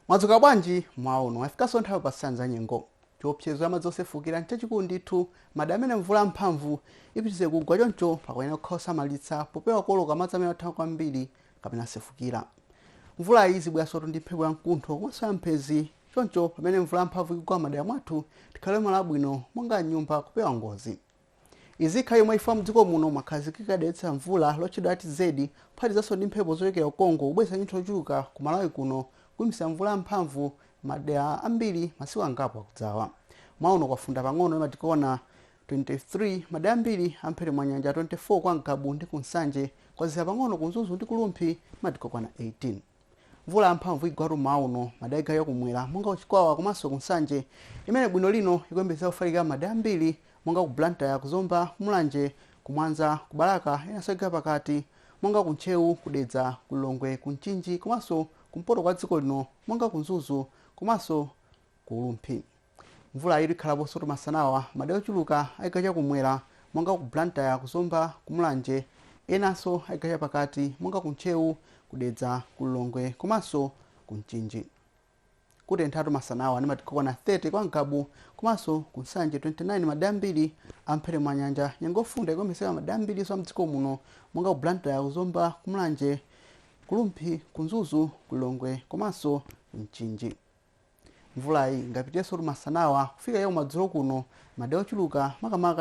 mwadzuka bwanji mmawa uno yafikanso nthawi yopatsirani za nyengo chiopsezo cha madzi osefukira nchachikulu ndithu madera amene mvula yamphamvu ipitirize kugwa choncho pakuyenera kukhala osamalitsa popewa kuoloka madzi amene athamanga kwambiri kapena asefukira mvula iyi izibweransotu ndi mphepo ya mkuntho komanso ya mphenzi choncho pamene mvula yamphamvu ikugwa m'madera mwathu tikhale malo abwino monga m'nyumba kupewa ngozi Izi zikhala chomwechi chifukwa mdziko muno mwakhazikika dera lobweretsa mvula lotchedwa ITCZ kuphatikizanso ndi mphepo zochokera ku Congo kubweretsa chinyontho chochuluka ku Malawi kuno kuyambitsa mvula ya mphamvu madera ambiri masiku angapo akudzawa. Mmawa uno kwafunda pang'ono ndi madigiri okwana 23 madera ambiri a m'mphepete mwa nyanja 24 kwa Ngabu ndi ku Nsanje kwazizira pang'ono ku Mzuzu ndi ku Rumphi ndi madigiri okwana 18. Mvula yamphamvu igwatu mmawa uno madera a chigawo cha kumwera monga ku Chikwawa komanso ku Nsanje imene bwino lino ikuyembekezeka kufalikira m'madera ambiri monga ku Blantyre, ku Zomba, ku Mulanje, ku Mwanza, ku Balaka enanso a chigawo cha pakati monga ku Ntcheu, ku Dedza, ku Lilongwe, ku Mchinji komanso kumpoto kwa dziko lino monga ku Mzuzu komanso ku Rumphi. Mvulayi ikhalaponsotu masanawa madera ochuluka achigawo cha kumwera monga ku Blantyre, ku Zomba, ku Mulanje enanso achigawo cha pakati monga ku Ntcheu, ku Dedza, ku Lilongwe komanso ku Mchinji. Kutenthatu masanawa ndi madigiri okwana 30 kwa Ngabu komanso ku Nsanje 29 madera ambiri a m'mphepete mwa nyanja. Nyengo yofunda ikuyembekezeka madera ambirinso a m'dziko muno monga ku Blantyre, ku Zomba, ku Mulanje, ku Rumphi, ku Mzuzu, ku Lilongwe komanso ku Mchinji. Mvulayi ingapitirirensotu masanawa kufika chakumadzulo kuno, madera ochuluka makamaka.